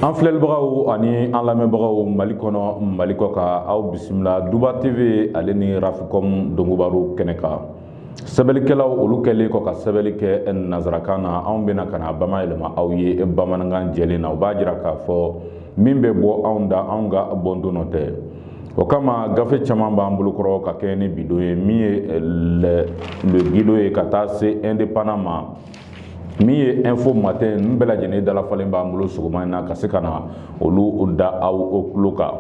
an filɛlibagaw ani an lamɛnbagaw mali kɔnɔ mali kɔkan aw bisimila duba tv ale ni rafikɔm dongobaru kɛnɛ kan sɛbɛlikɛlaw olu kɛlen kɔ ka sɛbɛli kɛ nanzarakan na anw bɛna ka na bamayɛlɛma aw ye bamanankan jɛlen na o b'a jira k'a fɔ min bɛ bɔ anw da anw ka bɔndon nɔ tɛ o kama gafe caman b'an bolokɔrɔ ka kɛɲɛ ni bi don ye min ye eh, le guido ye ka taa se indépendant ma min ye info matin nin bɛɛ lajɛlen dalafalen b'an bolo sɔgɔma in na ka se ka na olu da aw tulo kan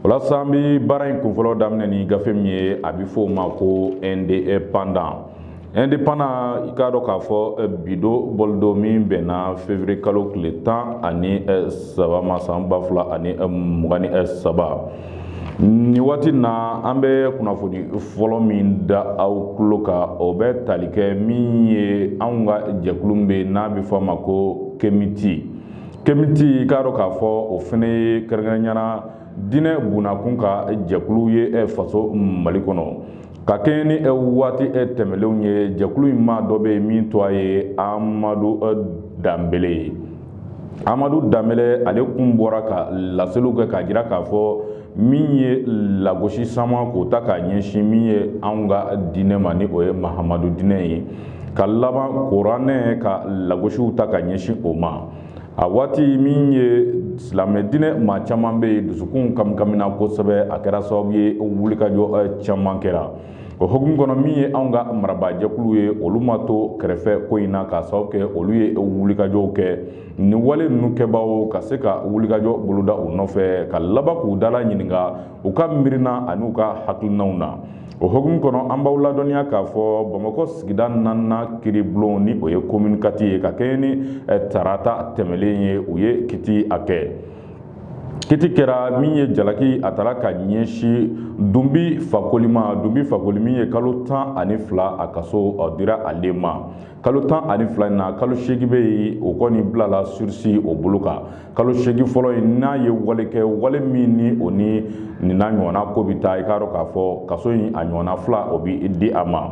o la sa an bɛ baara in kunfɔlɔ daminɛ ni gafe min ye a bɛ fɔ o ma ko indépendant indépendant i k'a dɔn k'a fɔ eh, bi don bɔli don min bɛnna fevriye kalo tile tan ani eh, saba ma san ba fila ani eh, mugan ni saba nin waati na an bɛ kunnafoni fɔlɔ min da aw tulo kan o bɛ tali kɛ min ye anw ka jɛkulu min bɛ yen n'a bɛ fɔ a ma ko kemiti kemiti i k'a dɔn k'a fɔ o fana ye kɛrɛnkɛrɛnnenya la diinɛ bunnakun ka jɛkulu ye faso mali kɔnɔ. ka kɛɲɛ ni waati tɛmɛnlenw ye jɛkulu in maa dɔ bɛ yen min tɔgɔ ye amadu danbele ye amadu danbele ale kun bɔra ka laseliw kɛ k'a jira k'a fɔ min ye lagosi sama k'o ta k'a ɲɛsin min ye anw ka diinɛ ma ni o ye mahamadu diinɛ ye ka laban kuranɛ ka lagosiw ta ka ɲɛsin o ma a waati min ye silamɛ diinɛ maa caman bɛ yen dusukun kamikamina kosɛbɛ a kɛra sababu ye wulikajɔ eh, caman kɛra o hukumu kɔnɔ min ye anw ka marabaajɛkulu ye olu ma to kɛrɛfɛ ko in na k'a sababu kɛ olu ye wulikajɔw kɛ nin wale ninnu kɛbaaw ka se ka wulikajɔ boloda u nɔfɛ ka laban k'u dala ɲininka u ka miirina ani u ka hakilinaw na o hukumu kɔnɔ an b'aw ladɔnniya k'a fɔ bamakɔ sigida naaninan kiiribulon ni o ye commune quatre ye ka kɛɲɛ ni eh, tarata tɛmɛlen ye u ye kiti a kɛ kiti kɛra min ye jalaki a tara ka ɲɛsin dunbi fakoli ma dunbi fakoli min ye kalo tan ani fila a kaso eh, dira ale ma kalo tan ani fila in na kalo seegin bɛ yen o kɔni bilala surisi o bolo kan kalo seegin fɔlɔ in n'a ye wale kɛ wale min ni o ni nin n'a ɲɔgɔnna ko bɛ taa i k'a dɔn k'a fɔ kaso in a ɲɔgɔnna fila o bɛ di a ma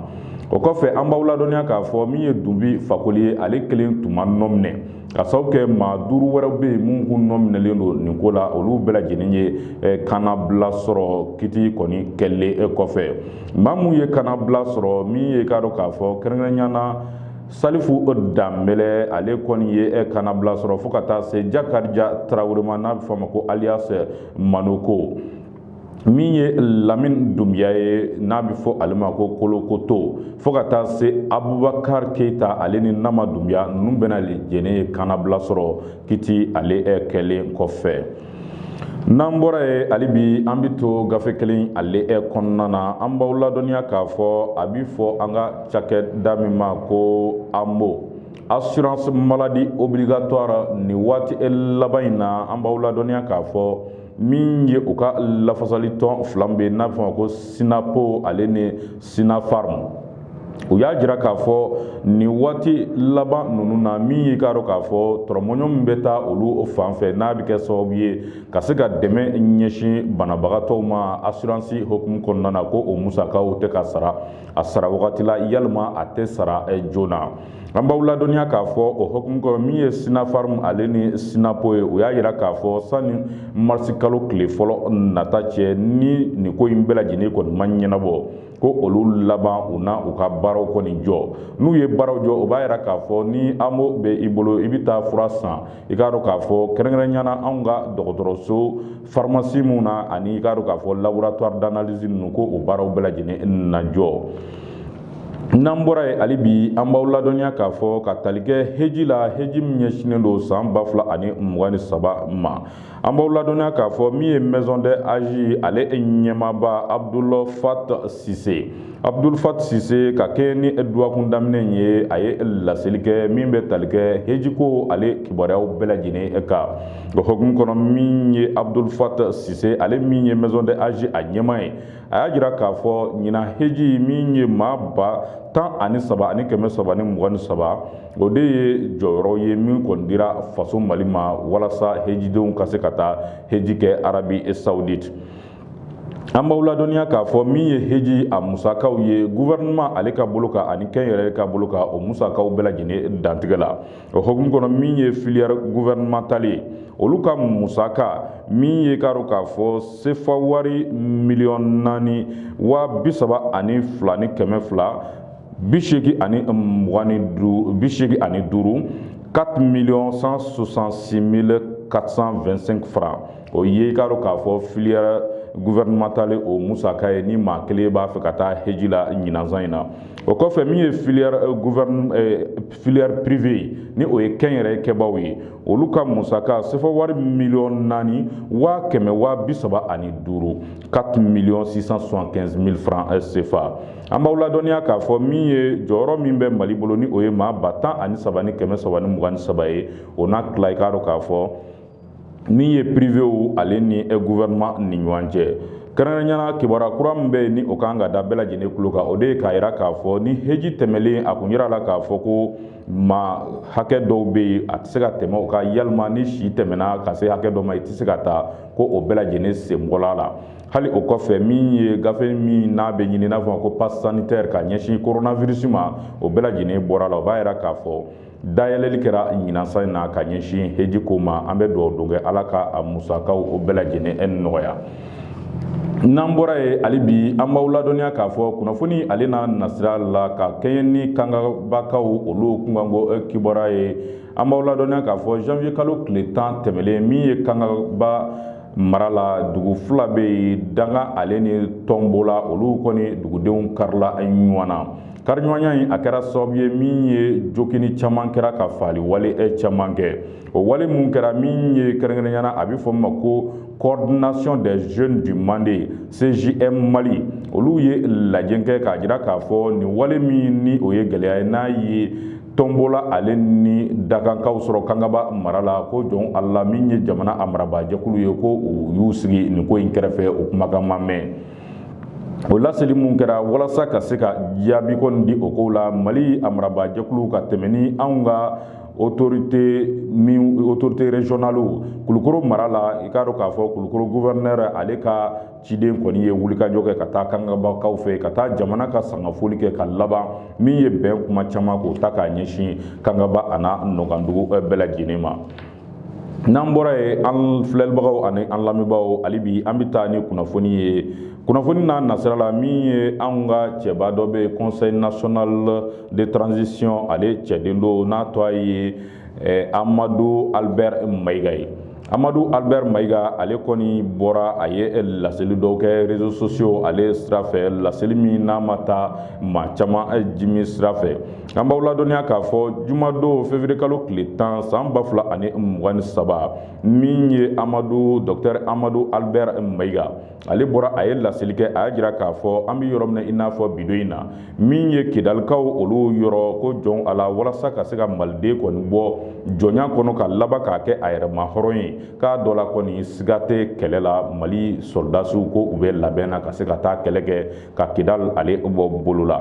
o kɔfɛ an b'aw ladɔnniya k'a fɔ min ye dunbi fakoli ye ale kelen tun ma nɔ minɛ k'a sababu kɛ maa duuru wɛrɛw bɛ yen minnu kun nɔ minɛlen don nin ko la olu bɛɛ lajɛlen ye eh, kannabila sɔrɔ kiti kɔni kɛlen eh, kɔfɛ maa minnu ye kannabila sɔrɔ min ye i k'a dɔn k'a fɔ kɛrɛnkɛrɛnnenya na Salifu danbele ale kɔni ye e kannabila sɔrɔ fo ka taa se jakarija tarawele ma n'a bɛ fɔ a ma ko alias manoko min ye lamini dunbuya ye n'a bɛ fɔ ale ma ko kolokoto fo ka taa se abubakari keyita ale ni nama dunbuya ninnu bɛɛ lajɛlen ye kannabila sɔrɔ kiti ale kɛlen kɔfɛ N'an bɔra ye hali bi an bɛ to gafe kelen ale e kɔnɔna na an b'aw ladɔnniya k'a fɔ a bɛ fɔ an ka cakɛda min ma ko amo assurance maladie obligatoire nin waati laban in na an b'aw ladɔnniya k'a fɔ min ye u ka lafasali tɔn fila bɛ n'a bɛ fɔ ko sinapo ale ni sinafarim u y'a jira k'a fɔ nin waati laban ninnu na min y'i k'a dɔn k'a fɔ tɔrɔmɔɲɔ min bɛ taa olu fan fɛ n'a bɛ kɛ sababu ye ka se ka dɛmɛ ɲɛsin banabagatɔw ma asiransi hukumu kɔnɔna na ko o musakaw tɛ ka sara a sara wagati la yalima a tɛ sara eh, joona an b'aw ladɔnniya k'a fɔ o hukumu kɔnɔ min ye sinafarim ale ni sinapo ye u y'a yira k'a fɔ sani marisi kalo tile fɔlɔ nata cɛ ni nin ko in bɛɛ lajɛlen kɔni ma ɲɛnabɔ ko olu laban u na u ka baaraw kɔni jɔ n'u ye baaraw jɔ o b'a yira k'a fɔ ni amo bɛ i bolo i bɛ taa fura san i k'a dɔn k'a fɔ kɛrɛnkɛrɛnnenya na anw ka dɔgɔtɔrɔso farimasi minnu na ani i k'a dɔn k'a fɔ laboratoire d'analyse ninnu ko o baaraw bɛɛ lajɛlen na jɔ n'an bɔra ye hali bi an b'aw ladɔnniya k'a fɔ ka tali kɛ heji la heji min ɲɛsinnen don san ba fila ani mugan ni saba ma an b'aw ladɔnniya k'a fɔ min ye maison du hadj ale ɲɛmaaba abdul fat sise abdul fat sise ka kɛɲɛ ni dɔgɔkun daminɛ ye a ye laseli kɛ min bɛ tali kɛ hejiko ale kibaruyaw bɛɛ lajɛlen kan o hukumu kɔnɔ min ye abdul fat sise ale min ye maison du hadj a ɲɛmaa ye a y'a jira k'a fɔ ɲinan heji min ye maa ba tan ani saba ani kɛmɛ saba ni mugan ni saba o de ye jɔyɔrɔ ye min kɔni dira faso mali ma walasa hejidenw ka se ka taa heji kɛ arabie saoudite an b'aw ladɔnniya k'a fɔ min ye heji a musakaw ye gouvernement ale ka bolo kan ani kɛnyɛrɛye ka bolo kan o musakaw bɛɛ lajɛlen dantigɛla o hukumu kɔnɔ min ye filière gouvernementale ye olu ka musaka min ye k'a dɔn k'a fɔ sefa wari miliyɔn naani waa bi saba ani fila ni kɛmɛ fila bi seegin ani mugan ni duuru bi seegin ani duuru 4 millions 166 mille 425 francs o ye i k'a dɔn k'a fɔ filière gouvernementale o musaka ye ni maa kelen b'a fɛ ka taa heji la ɲinan san in na o kɔfɛ min ye filière gouvernement filière privée ni o ye kɛnyɛrɛ kɛbaaw ye olu ka musaka sefa wari miliyɔn naani waa kɛmɛ waa bi saba ani duuru 4 miliyɔn 675 mille francs euh, CFA an b'aw ladɔnniya k'a fɔ min ye jɔyɔrɔ min bɛ mali bolo ni o ye maa ba tan ani saba ni kɛmɛ saba ni mugan ni saba ye o n'a tila i k'a dɔn k'a fɔ min ye privéw ale ni gouvernement ni ɲɔgɔn cɛ kɛrɛnkɛrɛnya na kibaruya kura min bɛ yen ni o ka kan ka da bɛɛ lajɛlen tulo kan o de ye k'a jira k'a fɔ ni heji tɛmɛlen a kun jirala k'a fɔ ko maa hakɛ dɔw bɛ yen a tɛ se ka tɛmɛ o kan yalima ni si tɛmɛna ka se hakɛ dɔ ma i tɛ se ka taa ko o bɛɛ lajɛlen sen bɔla la hali o kɔfɛ min ye gafe min n'a bɛ ɲini n'a fɔ ko pass sanitaire ka ɲɛsin coronavirus ma o bɛɛ lajɛlen bɔra la o b'a jira k'a fɔ dayɛlɛli kɛra ɲinan san in na ka ɲɛsin heji ko ma an bɛ dugawu don kɛ ala ka a musakaw o bɛɛ lajɛlen e nɔgɔya n'an bɔra yen hali bi an b'aw ladɔnniya k'a fɔ kunnafoni ale n'a nasira la ka kɛɲɛ ni kangabakaw olu kunkanko eh, kibaruya ye an b'aw ladɔnniya k'a fɔ janvier kalo tile tan tɛmɛlen min ye kangaba mara la dugu fila bɛ yen danga ale ni tɔnbola olu kɔni dugudenw karila ɲɔgɔn na Kariɲɔgɔnya in a kɛra sababu ye min ye joginni caman kɛra ka faali wale e caman kɛ o wale minnu kɛra min ye kɛrɛnkɛrɛnya na a bɛ fɔ ma ko coordination des jeunes du Mande CJM Mali olu ye lajɛ kɛ k'a jira k'a fɔ nin wale min ni o ye gɛlɛya ye n'a ye tɔnbola ale ni dangakaw sɔrɔ kangaba mara la ko joona la min ye jamana a marabaa jɛkulu ye ko u y'u sigi nin ko in kɛrɛfɛ o kumakan ma mɛn o laseli mun kɛra walasa ka se ka jaabi kɔni di o kow la mali a marabajɛkulu ka tɛmɛ ni anw ka autorité min autorité régionale kulukoro mara la i k'a dɔn k'a fɔ kulukoro gouverneur ale ka ciden kɔni ye wulikajɔ kɛ ka taa kangabakaw fɛ ka taa jamana ka sangafoli kɛ ka laban min ye bɛn kuma caman k'o ta k'a ɲɛsin kangaba a n'a nɔkandugu eh, bɛɛ lajɛlen ma n'an bɔra yen an filɛlibagaw ani an lamɛnbaaw hali bi an bɛ taa ni kunnafoni ye kunnafoni n'a nasira la min ye anw ka cɛba dɔ bɛ conseil national de transition ale cɛden don n'a tɔgɔ ye eh, amadu albert mayiga ye amadu albert mayiga ale kɔni bɔra a ye eh, laseli dɔw kɛ réseaux sociaux ale sira fɛ laseli min n'a ma taa maa caman eh, jimi sira fɛ An b'aw ladɔnniya k'a fɔ jumadon février kalo tile tan san ba fila ani mugan ni saba min ye amadu docteur amadu albert mayiga ale bɔra a ye laseli kɛ a y'a jira k'a fɔ an bɛ yɔrɔ min i n'a fɔ bi don in na min ye kidalikaw olu yɔrɔ ko joona la walasa ka se ka maliden kɔni bɔ jɔnya kɔnɔ ka laban k'a kɛ a yɛrɛma hɔrɔn ye k'a dɔ la kɔni siga tɛ kɛlɛ la mali sɔrɔdasiw ko u bɛ labɛn na ka se ka taa kɛlɛ kɛ ka kidal ale bɔ bolo la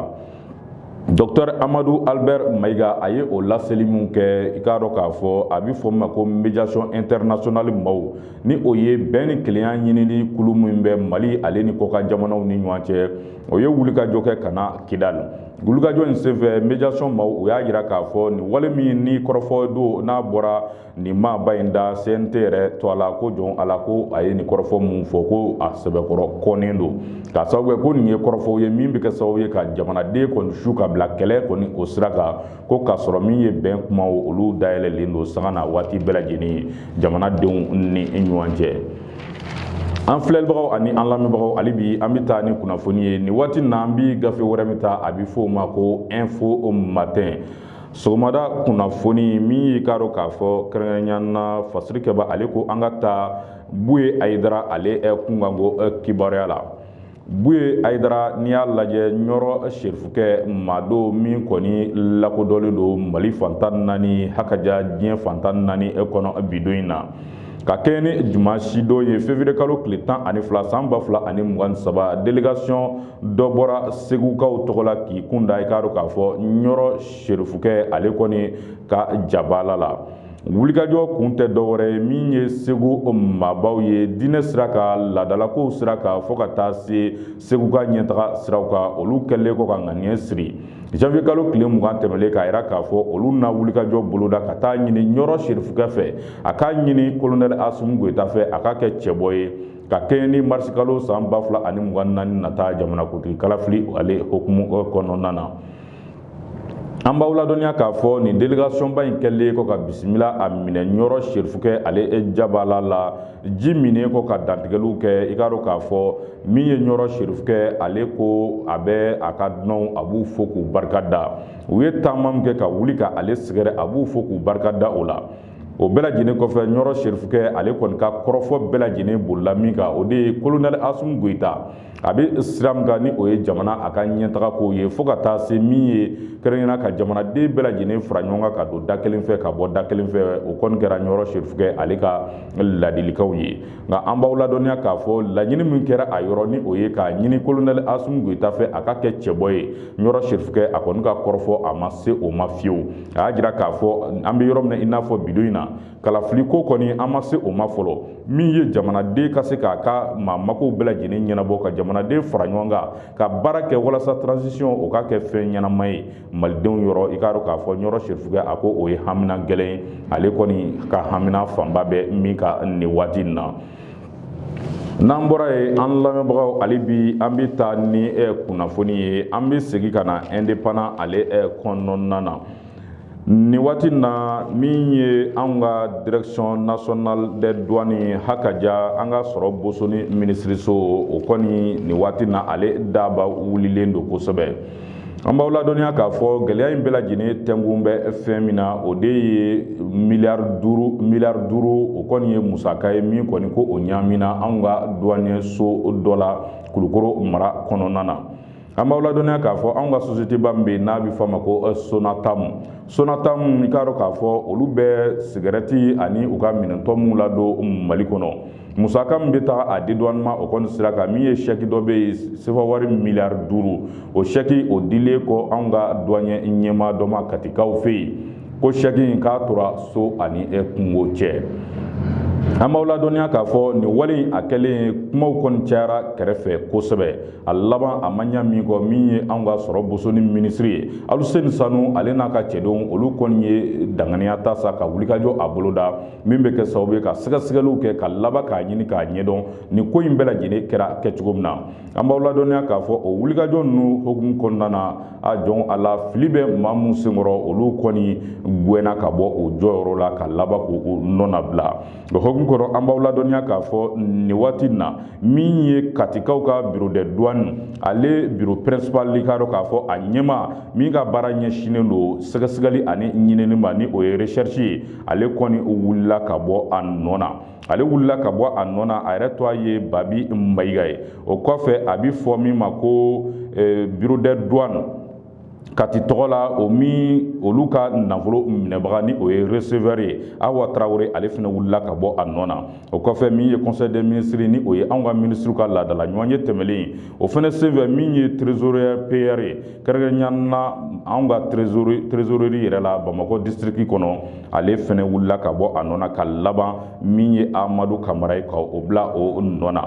Docteur amadu albert mayiga a ye o laseli min kɛ i k'a dɔn k'a fɔ a bɛ fɔ min ma ko mediation internationale maaw ni o ye bɛn ni kelenya ɲinili kulu min bɛ mali ale ni kɔkan jamanaw ni ɲɔgɔn cɛ o ye wulikajɔ kɛ ka na kidal wulikajɔ in senfɛ mediation maaw u y'a jira k'a fɔ nin wale min ni kɔrɔfɔ don n'a bɔra nin maaba in da CNT yɛrɛ to a la ko jɔn ala ko a ye nin kɔrɔfɔ min fɔ ko a sɛbɛkɔrɔ kɔnnen don k'a sababu kɛ ko nin ye kɔrɔfɔw ye min bɛ kɛ sababu ye ka jamanaden kɔni su ka bila kɛlɛ kɔni o sira kan ko k'a sɔrɔ min ye bɛn kumaw olu dayɛlɛlen don sanga ni waati bɛɛ lajɛlen jamanadenw ni ɲɔgɔn cɛ. an filɛlibagaw ani an lamɛnbagaw hali bi an bɛ taa ni kunnafoni ye nin waati na an bɛ gafe wɛrɛ min ta a bɛ fɔ o ma ko info matin sɔgɔmada kunnafoni min y'i k'a dɔn k'a fɔ kɛrɛnkɛrɛnya na fasirikɛba ale ko an ka taa buye ayidara ale kunkanko kibaruya la buye ayidara n'i y'a lajɛ ɲɔrɔ serifukɛ maa don min kɔni lakodɔnlen don mali fan tan naani hakaja diɲɛ fan tan naani kɔnɔ bi don in na ka kɛɲɛ ni dimansi don ye fevrier kalo tile tan ani fila san ba fila ani mugan ni saba delegation dɔ bɔra segukaw tɔgɔ la k'i kun da i k'a dɔn k'a fɔ ɲɔrɔ serifukɛ ale kɔni ka jabaala la wulikajɔ kun tɛ dɔwɛrɛ ye min ye segu maabaw ye diinɛ sira kan laadalakow sira kan fo ka taa se segu ka ɲɛtaga siraw kan olu kɛlen kɔ ka ŋaniya siri janvier kalo tile mugan tɛmɛlen k'a yira k'a fɔ olu na wulikajɔ boloda ka taa a ɲini ɲɔrɔ serifukɛ fɛ a k'a ɲini kolonɛli asumu goyita fɛ a ka kɛ cɛbɔ ye ka kɛɲɛ ni marisikalo san ba fila ani mugan naani nata jamanakuntigi kalafili ale hukumu kɔnɔna na an b'aw ladɔnniya k'a fɔ nin delegation ba in kɛlen kɔ ka bisimila a minɛ ɲɔrɔ serifukɛ ale jabala la ji minnen kɔ ka dantigɛliw kɛ i k'a dɔn k'a fɔ min ye ɲɔrɔ serifukɛ ale ko a bɛ a ka dunanw a b'u fo k'u barika da u ye taama min kɛ ka wuli ka ale sɛgɛrɛ a b'u fo k'u barika da o la o bɛɛ lajɛlen kɔfɛ ɲɔrɔ serifukɛ ale kɔni ka kɔrɔfɔ bɛɛ lajɛlen bolila min kan o de ye kolonɛli asumu goyita a bɛ sira min kan ni o ye jamana a ka ɲɛtaga kow ye fo ka taa se min ye kɛrɛnkɛrɛnya na ka jamanaden bɛɛ lajɛlen fara ɲɔgɔn kan ka don da kelen fɛ ka bɔ da kelen fɛ o kɔni kɛra ɲɔrɔ serifukɛ ale ka ladilikanw ye nka an b'aw ladɔnniya k'a fɔ laɲini min kɛra a yɔrɔ ni o ye k'a ɲini kolonɛli asumu goyita fɛ a ka kɛ cɛbɔ ye ɲɔrɔ serifukɛ a kɔni ka kɔrɔfɔ a ma se o ma fiyewu a y'a jira k'a fɔ an bɛ yɔrɔ min na i n'a fɔ bi don in na kalafiliko kɔni an ma se o ma fɔlɔ min ye jamanaden ka se k'a ka maa makow bɛɛ lajɛlen ɲɛnabɔ ka jamanaden fara ɲɔgɔn kan ka baara kɛ walasa transition o ka kɛ fɛn ɲɛnama ye malidenw yɔrɔ i k'a dɔn k'a fɔ ɲɔrɔ serifukɛ a ko o ye hamina gɛlɛn ye ale kɔni ka hamina fanba bɛ min kan nin waati in na n'an bɔra ye an lamɛnbagaw ale bi an bɛ taa ni eh, kunnafoni ye an bɛ segin ka na indépendant ale eh, kɔnɔna na nin waati na min ye anw ka direction nationale des douanes hakaja an ka sɔrɔ bosoni minisiriso o kɔni nin waati na ale daba wulilen don kosɛbɛ an b'aw ladɔnniya k'a fɔ gɛlɛya in bɛɛ lajɛlen tɛnkun bɛ fɛn min na o de ye miliyari duuru miliyari duuru o kɔni ye musaka ye min kɔni ko o ɲaamina anw ka duwaniyeso dɔ la kulukoro mara kɔnɔna na an b'aw ladɔnniya k'a fɔ anw ka sosiyeteba min bɛ yen n'a bɛ fɔ a ma ko sonatamu sonatamu i k'a dɔn k'a fɔ olu bɛ sigɛrɛti ani u ka minɛntɔ minnu ladon mali kɔnɔ musaka min bɛ taa a dédouanement o kɔni sira kan min ye sɛki dɔ bɛ yen sefa wari miliyari duuru o sɛki o dilen kɔ anw ka douanier ɲɛmaa dɔ ma katikaw fɛ yen ko sɛki in k'a tora so ani kungo cɛ an b'aw ladɔnniya k'a fɔ nin wale in a kɛlen kumaw kɔni cayara kɛrɛfɛ kosɛbɛ a laban a ma ɲa min kɔ min ye anw ka sɔrɔ bosoni minisiri ye aluseni sanu ale n'a ka cɛdenw olu kɔni ye danganiya ta sa ka wulikajɔ a boloda min bɛ kɛ sababu ye ka sɛgɛsɛgɛliw kɛ ka laban k'a ɲini k'a ɲɛdɔn nin ko in bɛɛ lajɛlen kɛra kɛcogo min na an b'aw ladɔnniya k'a fɔ o wulikajɔ ninnu hokumu kɔnɔna na a jɔn a la fili bɛ maa minnu senkɔrɔ olu kɔni gɛnna ka bɔ u jɔyɔrɔ la ka laban k'u nɔnabila o hokumu kɔnɔ an b'aw ladɔnniya k'a fɔ nin waati in na min ye katikaw ka bureau de douane ale bureau principal k'a dɔn k'a fɔ a ɲɛmaa min ka baara ɲɛsinnen don sɛgɛsɛgɛli ani ɲinini ma ni o ye recherche ye ale kɔni wulila ka bɔ a nɔ na ale wulila ka bɔ a nɔ na a yɛrɛ tɔgɔ ye babi mayiga ye o kɔfɛ a bɛ fɔ min ma ko eh, bureau de douane kati tɔgɔ la o min olu ka nafolo minɛbaga ni o ye receveur ye awa tarawele ale fana wulila ka bɔ a nɔ na o kɔfɛ min ye conseil des ministres ni o ye anw ka ministres ka laadala ɲɔgɔnye tɛmɛlen ye o fana senfɛ min ye trésorier payeur ye kɛrɛnkɛrɛnnenya na anw ka trésorerie yɛrɛ la Bamakɔ district kɔnɔ ale fana wulila ka bɔ a nɔ na ka laban min ye Amadu Kamara ye ka o bila o nɔ na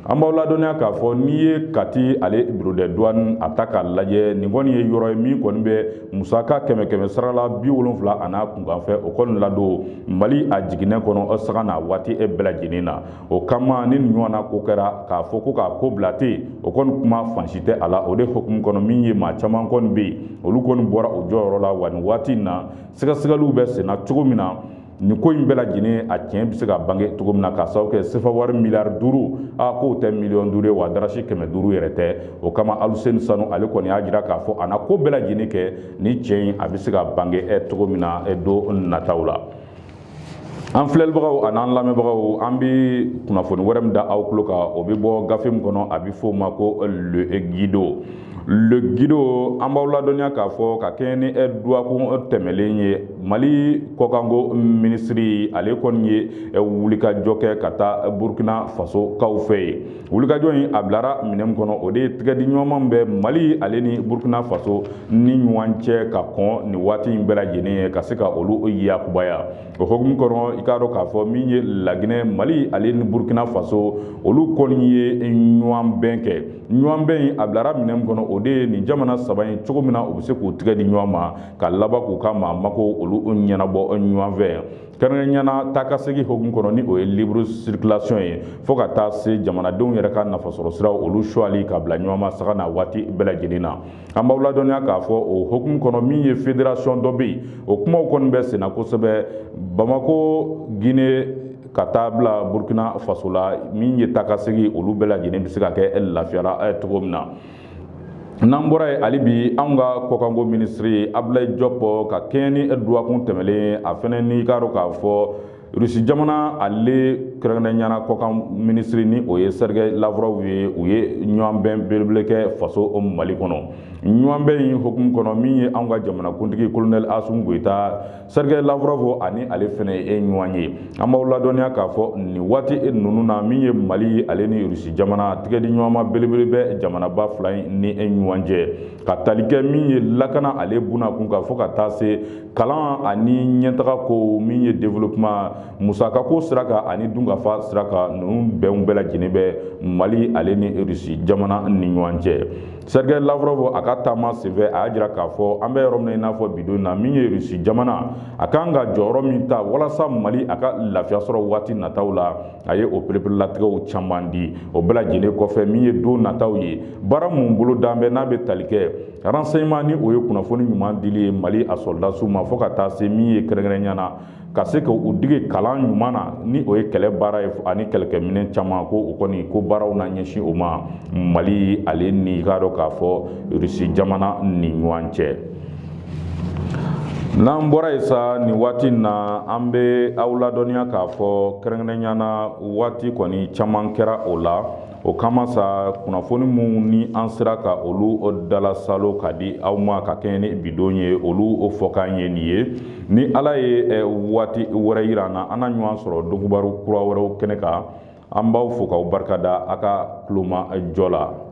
An b'aw ladɔnniya k'a fɔ n'i ye kati ale bureau de douane a ta k'a lajɛ nin kɔni ye yɔrɔ ye min kɔni bɛ musaka kɛmɛ kɛmɛ sara la bi wolonwula a n'a kunkanfɛn o kɔni ladon mali a jiginɛ kɔnɔ o sanga n'a waati in bɛɛ lajɛlen na o kama ni nin ɲɔgɔnna ko kɛra k'a fɔ ko k'a ko bila ten o kɔni kuma fan si tɛ a la o de hukumu kɔnɔ min ye maa caman kɔni bɛ yen olu kɔni bɔra u jɔyɔrɔ la wa nin waati in na sɛgɛsɛgɛliw bɛ senna cogo min na nin ko in bɛɛ lajɛlen a tiɲɛ bɛ se ka bange cogo min na k'a sababu kɛ sefa wari miliyari duuru a k'o tɛ miliyɔn duuru ye wa darasi kɛmɛ duuru yɛrɛ tɛ o kama aluseni sanu ale kɔni y'a jira k'a fɔ a na ko bɛɛ lajɛlen kɛ ni tiɲɛ in a bɛ se ka bange cogo min na don nataw la an filɛlibagaw ani an lamɛnbagaw an bɛ kunnafoni wɛrɛ min da aw tulo kan o bɛ bɔ gafe min kɔnɔ a bɛ f'o ma ko le guido le guido an b'aw ladɔnniya k'a fɔ ka kɛɲɛ ni ɛ duwakun tɛmɛlen ye mali kɔkanko minisiri ale kɔni ye wulikajɔ kɛ ka taa burkina faso kaw fɛ yen wulikajɔ in a bilara minɛn min kɔnɔ o de ye tigɛdi ɲɔgɔnma bɛ mali ale ni burkina faso ni ɲɔgɔn cɛ ka kɔn nin waati in bɛɛ lajɛlen ɲɛ ka se ka olu yakubaya o hokumu kɔnɔ i k'a dɔn k'a fɔ min ye laginɛ mali ale ni burkina faso olu kɔni ye ɲɔgɔn bɛn kɛ ɲɔgɔnbɛn in a bilara minɛn min kɔnɔ o de ye nin jamana saba in cogo min na u bɛ se k'u tigɛ di ɲɔgɔn ma ka laban k'u ka maa mako olu ɲɛnabɔ ɲɔgɔn fɛ kɛrɛnkɛrɛnya na taakasegin hokumu kɔnɔ ni o ye libre circulation ye fo ka taa se jamanadenw yɛrɛ ka nafasɔrɔsiraw olu suwali ka bila ɲɔgɔn masago na waati bɛɛ lajɛlen na an b'aw ladɔnniya k'a fɔ o hokumu kɔnɔ min ye federasiyɔn dɔ bɛ yen o kumaw kɔni bɛ senna kosɛbɛ bamako gine ka taa bila burkina faso la min ye taakasegin olu bɛɛ lajɛlen bɛ se ka kɛ lafiya ra cogo min na n'an bɔra yen hali bi anw ka kɔkanko minisiri abulayi jɔpɔ ka kɛɲɛ ni duwakun tɛmɛlen ye a fɛnɛ n'i k'a dɔn k'a fɔ rusi jamana ale kɛrɛnkɛrɛnya na kɔkan minisiri ni o ye sergei lavrov ye u ye ɲɔgɔnbɛn belebele kɛ faso mali kɔnɔ ɲɔgɔnbɛn in hokumu kɔnɔ min ye anw ka jamanakuntigi kolonɛli asimi goyita sergei lavrov ani ale fɛnɛ ye ɲɔgɔn ye an b'aw ladɔnniya k'a fɔ nin waati ninnu na min ye mali ale ni rusi jamana tigɛdi ɲɔgɔnma belebele bɛ jamanaba fila in ni ɲɔgɔn cɛ ka tali kɛ min ye lakana ale bunda kun kan fo ka taa se kalan ani ɲɛtaga ko min ye développement musaka ko sira kan ani dunkafa sira kan ninnu bɛnw bɛɛ lajɛlen bɛ mali ale ni russie jamana ni ɲɔgɔn cɛ sergei lavrov a ka taama senfɛ a y'a jira k'a fɔ an bɛ yɔrɔ min na i n'a fɔ bi don na min ye russie jamana a kan ka jɔyɔrɔ min ta walasa mali a ka lafiya sɔrɔ waati nataw la a ye o pereperelatigɛw caman di o bɛɛ lajɛlen kɔfɛ min ye don nataw ye baara mun bolodalen bɛ n'a bɛ tali kɛ renseignement ni o ye kunnafoni ɲuman dili ye mali a sɔrɔdasiw ma fo ka taa se min ye kɛrɛnkɛrɛnya na ka se ka u dege kalan ɲuman na ni o ye kɛlɛ baara ye ani kɛlɛkɛminɛn caman ko o kɔni ko baaraw na ɲɛsin o ma mali ale n'i k'a dɔn k'a fɔ rusi jamana ni ɲɔgɔn cɛ n'an bɔra yen sa nin waati in na an bɛ aw ladɔnniya k'a fɔ kɛrɛnkɛrɛnnenya na waati kɔni caman kɛra o la o kama sa kunnafoni minnu ni an sera ka olu dalasalo ka di aw ma ka kɛɲɛ ni bi don ye olu o fɔkan ye nin ye ni ala ye eh, waati wɛrɛ yira an na an na ɲɔgɔn sɔrɔ donkubaru kura wɛrɛw kɛnɛ kan an b'aw fo k'aw barika da a ka tulomajɔ la